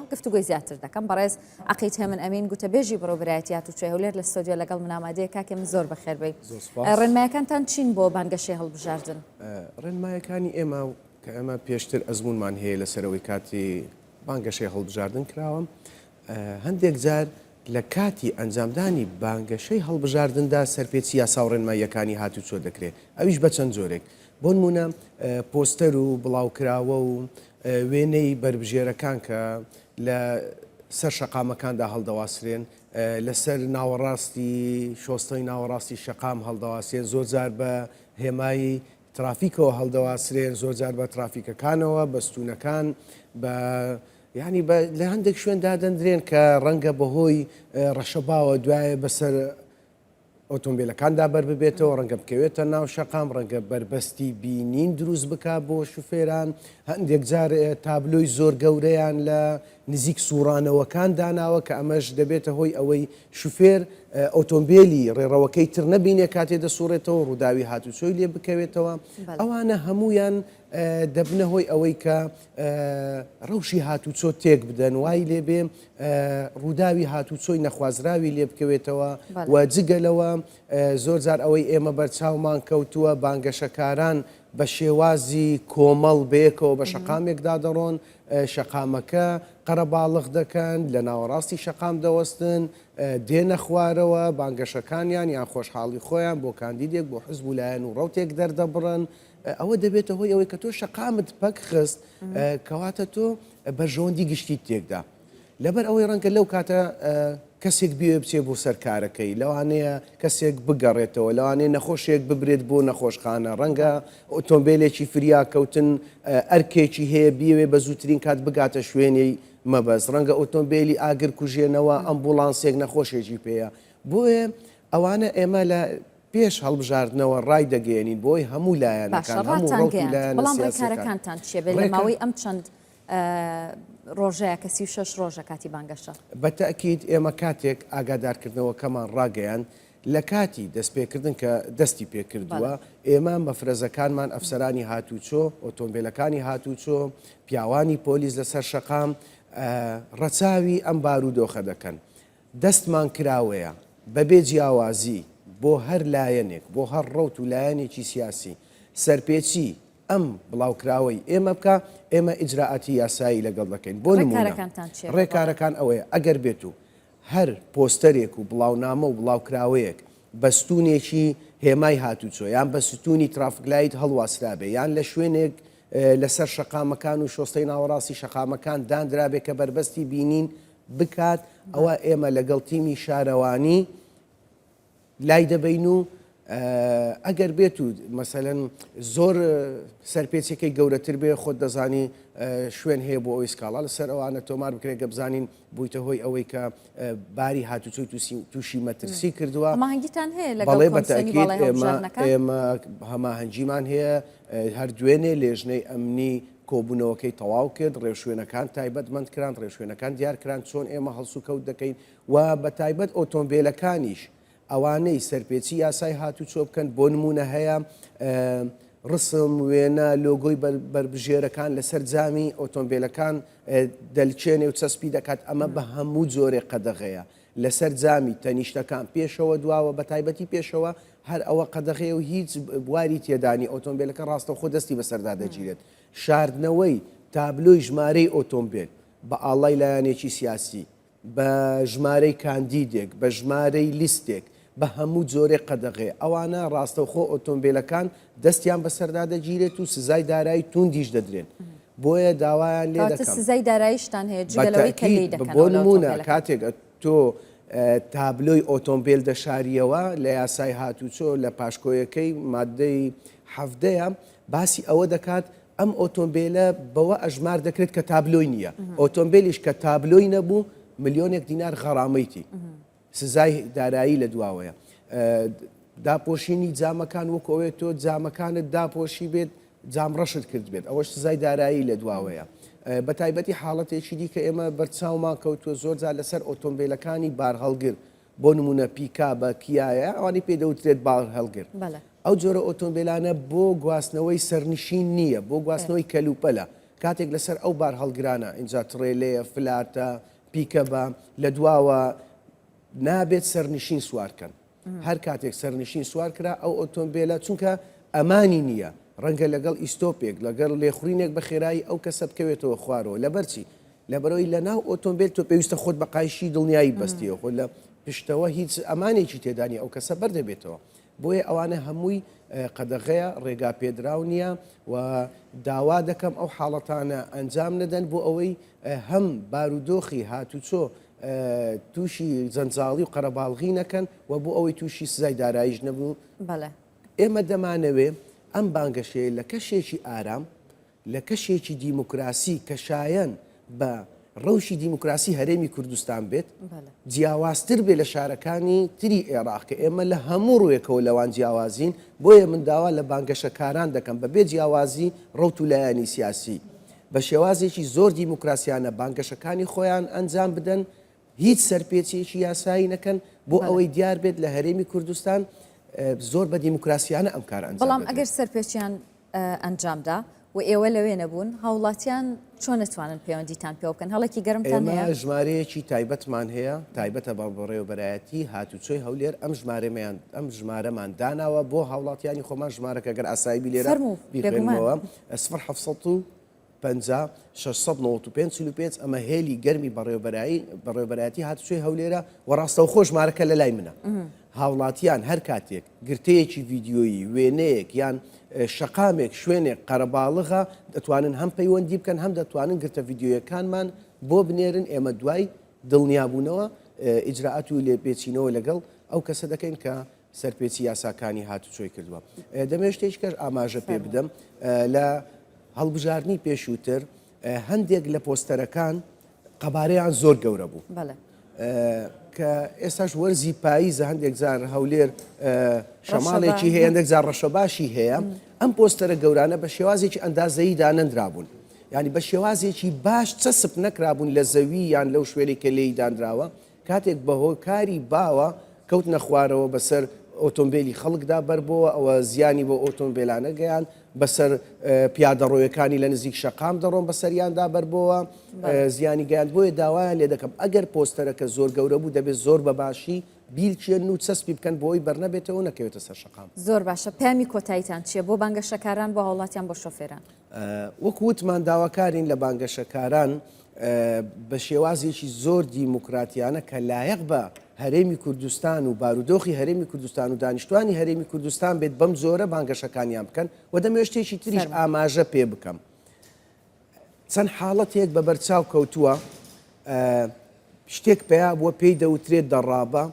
گفتوگۆی زیاتر دەکەم بەڕێز عقید هێمن ئەمین گوتەبێژی بەڕێوبەرایەتی هاتوچۆی هەولێر لە ستۆدیۆ لەگەڵ من ئامادەیە کاکێ من زۆر بەخێربێی زۆر سوپاس. ئە، ڕێنمایەکانتان چین بۆ بانگەشەی هەڵبژاردن؟ ئە، ڕێنمایەکانی ئێمە و کە ئێمە پێشتر ئەزموونمان هەیە لەسەر ئەوەی کاتی بانگەشەی هەڵبژاردن کراوە، ئە، هەندێک جار لە کاتی ئەنجامدانی بانگەشەی هەڵبژاردندا سەرپێچی یاسا و ڕێنماییەکانی هاتوچۆ دەکرێت، ئەویش بە چەند جۆرێک، بۆنموونە پۆستەر و بڵاوکراوە و وێنەی بەربژێرەکان کە لە سەر شەقامەکاندا هەڵدەواسرێن، لەسەر ناوەڕاستی شۆستەی ناوەڕاستی شەقام هەڵدەواسێن، زۆرجار بە هێمای ترافیکەوە هەڵدەواسرێن، زۆرجار بە ترافیکەکانەوە، بە ستوونەکان، بە یانی لە هەندێک شوێن دادەندرێن کە ڕەنگە بەهۆی ڕەشەباوە دوایە بەسەر ئۆتۆمبیلەکاندا بەرببێتەوە، ڕەنگە بکەوێتە ناو شەقام، ڕەنگە بەربەستی بینین دروست بکات بۆ شوفێران، هەندێک جار تابلۆی زۆر گەورەیان لە نزیک سوڕانەوەکان داناوە کە ئەمەش دەبێتە هۆی ئەوەی شوفێر ئۆتۆمبیلی ڕێڕەوەکەی تر نەبینێ کاتێ دەسوڕێتەوە ڕووداوی هاتوچۆی لێ بکەوێتەوە ئەوانە هەمویان دەبنە هۆی ئەوەی کە رەوشی هاتوچۆ تێکبدەن، وای لێبێ رووداوی هاتوچۆی نەخوازراوی لێبکەوێتەوە و جگە لەوە زۆرجار ئەوەی ئێمە بەرچاومان کەوتووە بانگەشەکاران بە شێوازی کۆمەڵ بەیەکەوە بە شەقامێکدا دەڕۆن، شەقامەکە قەرەباڵغ دەکەن، لە ناوەڕاستی شەقام دەوەستن، دێنە خوارەوە، بانگەشەکانیان یان خۆشحاڵی خۆیان بۆ کاندیدێک، بۆ حزب و لایەن و رەوتێک دەردەبڕن، ئەوە دەبێتە هۆی ئەوەی کە تۆ شەقامت پەک خست کەواتە تۆ بەرژەوەندی گشتیت تێکدا لەبەر ئەوەی ڕەنگە لەو کاتە کەسێک بێ بچێ بۆ سەر کارەکەی لەوانەیە کەسێک بگەڕێتەوە لەوانێ نەخۆشێک ببرێت بۆ نەخۆشخانە ڕەنگە ئۆتۆمبیلێکی فریا کەوتن ئەرکێکی هەیە بیوێ بە زووترین کات بگاتە شوێنی مەبەست ڕەنگە ئۆتۆمبیلی ئاگر کوژێنەوە ئەمبوڵانسێک نەخۆشێکی پێەیە بۆیە ئەوانە ئێمە لە پێش هەڵبژاردنەوە ڕایدەگەیەنین بۆ هەموو لایەنەکان، باشە هەموو ڕەوت و ڕاتانگەیاند، لایەنە بەڵام سیاسییەکان. ڕێکارەکانتان چییە بێ لە ڕێکار. ماوەی ئەم چەند ڕۆژەیە کە سی و شەش ڕۆژە کاتی بانگەشە؟ بە تەئکید ئێمە کاتێک ئاگادارکردنەوەکەمان ڕاگەیاند لە کاتی دەستپێکردن کە دەستی پێکردووە، بەڵێ. ئێمە مەفرەزەکانمان ئەفسەرانی هاتوچۆ، ئۆتۆمبێلەکانی هاتوچۆ، پیاوانی پۆلیس لەسەر شەقام ڕەچاوی ئەم بارودۆخە دەکەن. دەستمان کراوەیە بەبێ جیاوازی بۆ هەر لایەنێک، بۆ هەر ڕەوت و لایەنێکی سیاسی سەرپێچی ئەم بڵاوکراوەی ئێمە بکا، ئێمە ئیجرائاتی یاسایی لەگەڵ دەکەین. بۆ نموونە ڕێکارەکانتان چیە لەگەڵ؟ ڕێکارەکان ئەوەیە ئەگەر بێت و هەر پۆستەرێک و بڵاونامە و بڵاوکراوەیەک بە ستوونێکی هێمای هاتوچۆ یان بە ستوونی ترافکلایت هەڵواسرابێ یان لە شوێنێک لەسەر شەقامەکان و شۆستەی ناوەڕاستی شەقامەکان داندرابێ کە بەربەستی بینین بکات ئەوا ئێمە لەگەڵ تیمی شارەوانی لای دەبین و ئەگەر بێت و مەسەەن زۆر سەرپێچەکەی گەورەتر بێ خۆت دەزانی شوێن هەیە بۆ ئەوی سکاڵا لەسەر ئەوانە تۆمار بکرێت گە بزانین بوویتە هۆی ئەوەی کە باری هاتوچۆی تووشی مەترسی کردووە ماهنگگیتان هەیە لەگەڵێ بەتەکیێمە هەماهنگگیمان هەیە هەر دوێنێ لێژنەی ئەمنی کۆبوونەوەکەی تەواو کرد، ڕێوشوێنەکان تایبەتمەند کران، ڕێوشوێنەکان دیار کران چۆن ئێمە هەڵسوکەوت دەکەین و بە تایبەت ئۆتۆمبێلەکانیش ئەوانەی سەرپێچی یاسای هاتوچۆ بکەن بۆ نموونە هەیە ڕسم، وێنە، لۆگۆی بەربژێرەکان لەسەر جامی ئۆتۆمبێلەکان دەلکێنێ و چەسپی دەکات، ئەمە بە هەموو جۆرێ قەدەغەیە. لەسەر جامی تەنیشتەکان پێشەوە دواوە بەتایبەتی پێشەوە هەر ئەوە قەدەغەیە و هیچ بواری تێدانی ئۆتۆمبیلەکە ڕاستەوخۆ دەستی بەسەردا دەگیرێت شاردنەوەی تابلۆی ژمارەی ئۆتۆمبیل بە ئاڵای لایەنێکی سیاسی بە ژمارەی کاندیدێک بە ژمارەی لیستێک بە هەموو جۆرێک قەدەغەیە، ئەوانە ڕاستەوخۆ ئۆتۆمبێلەکان دەستیان بەسەردا دەگیرێت و سزای دارایی تووندیش دەدرێن، بۆیە داوایان لێ دەکەم. کەواتە سزای داراییشتان هەیە جگە لەوەی کە لێی دەکەنەوە لە ئۆتۆمبێلەکان؟ بەتەئکید، بۆ نموونە کاتێک تۆ تابلۆی ئۆتۆمبێل دەشارییەوە لە یاسای هاتووچۆ لە پاشکۆیەکەی ماددەی حەڤدەیە باسی ئەوە دەکات ئەم ئۆتۆمبێلە بەوە ئەژمار دەکرێت کە تابلۆی نییە، ئۆتۆمبێلیش کە تابلۆی نەبوو ملیۆنێک دینار غەڕامەیتی. سزای دارایی لە دواوەیە. داپۆشینی جامەکان وەکو ئەوەیە تۆ جامەکانت داپۆشی بێت جام ڕەشت کرد بێت ئەوەش سزای دارایی لە دواوەیە بە تایبەتی حاڵەتێکی دیکە ئێمە بەرچاومان کەوتووە زۆرجار لەسەر ئۆتۆمبیلەکانی بارهەڵگر بۆ نمونە پیکا بە کیایە ئەوانی پێدەوترێت باڵ هەڵگر ئەو جۆرە ئۆتۆمبیلانە بۆ گواستنەوەی سەرنشین نییە بۆ گواستنەوەی کەلوپەلە کاتێک لەسەر ئەو بار هەڵگرانە اینجا تڕێلەیە فلاتە پیکە بە لە دواوە نابێت سەرنشین سوارکەن هەر کاتێک سەرنشین سوار کرا ئەو ئۆتۆمبیلە چونکە ئەمانی نییە ڕەنگە لەگەڵ ئیسۆپێک لەگەڵ لێخورینێک بە خێرایی ئەو کەسە بکەوێتەوە خوارەوە لەبەرچی لەبەرەوەی لە ناو ئۆتۆمبیل تۆ پێویستە خۆت بە قایشی دڵنیایی بەستیەوە خۆ لە پشتەوە هیچ ئەمانێکی تێدانی ئەو کەسە بەردەبێتەوە بۆیە ئەوانە هەمووی قەدەغەیە، ڕێگا پێدراو نییە و داوا دەکەم ئەو حاڵەتانە ئەنجام نەدەن بۆ ئەوەی هەم بارودۆخی هاتوچۆ تووشی جەنجاڵی و قەرەباڵغی نەکەن و بۆ ئەوەی تووشی سزای داراییش نەبوو. بەڵێ. ئێمە دەمانەوێ ئەم بانگەشەیە لە کەشێکی ئارام لە کەشێکی دیموکراسی کە شایەن بە ڕەوشی دیموکراسی هەرێمی کوردستان بێت، جیاوازتر بێت لە شارەکانی تری ئێراق کە ئێمە لە هەموو ڕووێکەوە لەوان جیاوازین، بۆیە من داوا لە بانگەشەکاران دەکەم بەبێ جیاوازی ڕەوت و لایەنی سیاسی بە شێوازێکی زۆر دیموکراسیانە بانگەشەکانی خۆیان ئەنجام بدەن، هیچ سەرپێچییەکی یاسایی نەکەن، بۆ ئەوەی دیار بێت لە هەرێمی کوردستان زۆر بە دیموکراسیانە ئەم کارە ئەنجام دەدرێت. بەڵام ئەگەر سەرپێچیان ئەنجامدا و ئێوە لەوێ نەبوون، هاوڵاتیان چۆن ئەتوانن پەیوەندیتان پێوە بکەن، هەڵێکی گەرمتان هەیە؟ ئێمە ژمارەیەکی تایبەتمان هەیە، تایبەتە بە بەڕێوەبەرایەتی هاتوچۆی هەولێر، ئەم ژمارەمان ئەم ژمارەمان داناوە بۆ هاوڵاتیانی خۆمان، ژمارەکە گەر ئاسایبی لێرە بیخوێنمەوە، فەرموو بێگومان. 0700 پەنجا، شەش سەد نەوەد و پێنج، چل و پێنج، ئەمە هێلی گەرمی بەڕێوەبەرایی بەڕێوەبەرایەتی هاتوچۆی هەولێرە و ڕاستەوخۆ ژمارەکە لە لای منە هاوڵاتیان هەر کاتێک گرتەیەکی ڤیددیۆیی وێنەیەک یان شەقامێک شوێنێک قەرەباڵغا دەتوانن هەم پەیوەندی بکەن هەم دەتوانن گرتە ڤیددیۆیەکانمان بۆ بنێرن ئێمە دوای دڵنیابوونەوە ئیجرراعات و لێپێچینەوە لەگەڵ ئەو کەسە دەکەین کە سەرپێچی یاساکانی هاتوچۆی کردووە. دەمەوێت شتێکیکەش ئاماژە پێ بدەم لە هەڵبژاردنی پێشووتر هەندێک لە پۆستەرەکان قەبارەیان زۆر گەورە بوو کە ئێستاش وەرزی پاییزە هەندێک جار هەولێر شەماڵێکی هەیە هەندێک جار ڕەشە باشی هەیە ئەم پۆستەرە گەورانە بە شێوازێکی ئەندازەیی دانەندرابوون ینی بە شێوازێکی باش چەسب نەکرابوون لە زەوی یان لەو شوێنێکە لێی دانراوە کاتێک بە هۆی کاری باوە کەوتنە خوارەوە بە سەر ئۆتۆمبێلی خەڵکدا بەربۆوە ئەوە زیانی بۆ ئۆتۆمبێلانە گەیاند بە سەر پیادەڕۆیەکانی لە نزیک شەقام دەڕۆن بە سەریاندا بەربۆوە زیانی گەیاند بۆیە داوایان لێ دەکەم ئەگەر پۆستەرەکە زۆر گەورە بوو دەبێت زۆر بە باشی بیرچێن و چەسپی بکەن بۆی بەرنەبێتەوە نەکەوێتە سەر شقام زۆر باشە پامی کۆتاییتان چیە بۆ بانگەشەکاران بۆ هاوڵاتیان بۆ شۆفێران وەکو وتمان داواکارین لە بانگەشەکاران بە شێوازێکی زۆر دیموکراتیانە کە لایەق بە هەرێمی کوردستان و بارودۆخی هەرێمی کوردستان و دانیشتوانی هەرێمی کوردستان بێت بەم زۆرە بانگەشەکانیان بکەن و دەمێشتێکی تریش ئاماژە پێ بکەم چەند حاڵەتێک بە بەرچاو کەوتووە شتێک پەیا بووە پێی دەوترێت دەڕابە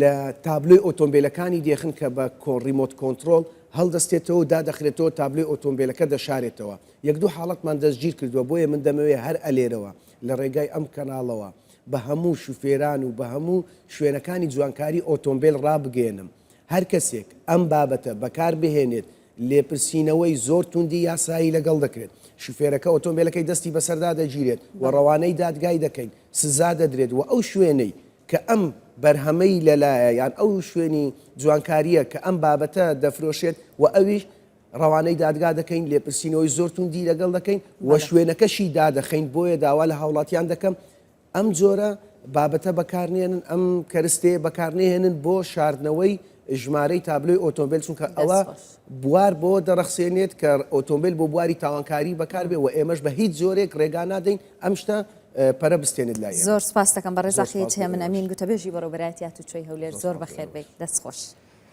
لە تابلۆی ئۆتۆمبێلەکانی دێخن کە بە ریمۆت کۆنترۆڵ هەڵدەستێتەوە و دادەخرێتەوە تابلۆی ئۆتۆمبێلەکە دەشارێتەوە یەک دوو حاڵەتمان دەستگیر کردووە بۆیە من دەمەوێت هەر ئەلێرەوە لە ڕێگای ئەم کەناڵەوە بە هەموو شوفێران و بە هەموو شوێنەکانی جوانکاری ئۆتۆمبێل ڕابگەیەنم هەر کەسێک ئەم بابەتە بەکار بهێنێت لێپرسینەوەی زۆر توندی یاسایی لەگەڵ دەکرێت، شوفێرەکە ئۆتۆمبێلەکەی دەستی بەسەردا دەگیرێت و ڕەوانەی دادگای دەکەین، سزا دەدرێت و ئەو شوێنەی کە ئەم بەرهەمەی لەلایە یان ئەو شوێنی جوانکارییە کە ئەم بابەتە دەفرۆشێت و ئەویش ڕەوانەی دادگا دەکەین، لێپرسینەوەی زۆر توندی لەگەڵ دەکەین و شوێنەکەشی دادەخەین، بۆیە داوا لە هاوڵاتیان دەکەم ئەم جۆرە بابەتە بەکارنێنن، ئەم کەرستەیە بەکارنەهێنن بۆ شاردنەوەی ژمارەی تابلۆی ئۆتۆمبێل، چونکە ئەوە بوار بۆ دەڕەخسێنێت کە ئۆتۆمبێل بۆ بواری تاوانکاری بەکاربێ و ئێمەش بە هیچ جۆرێک ڕێگا نادەین ئەم شتە پەرە بستێنێت لای ئێمە. زۆر سوپاستەکەم بەڕێز ئاخی چێمن ئەمین گوتەبێژی بەڕێوەبەرایەتی هاتووچۆی هەولێر زۆر بەخێربێیت دەستخۆش.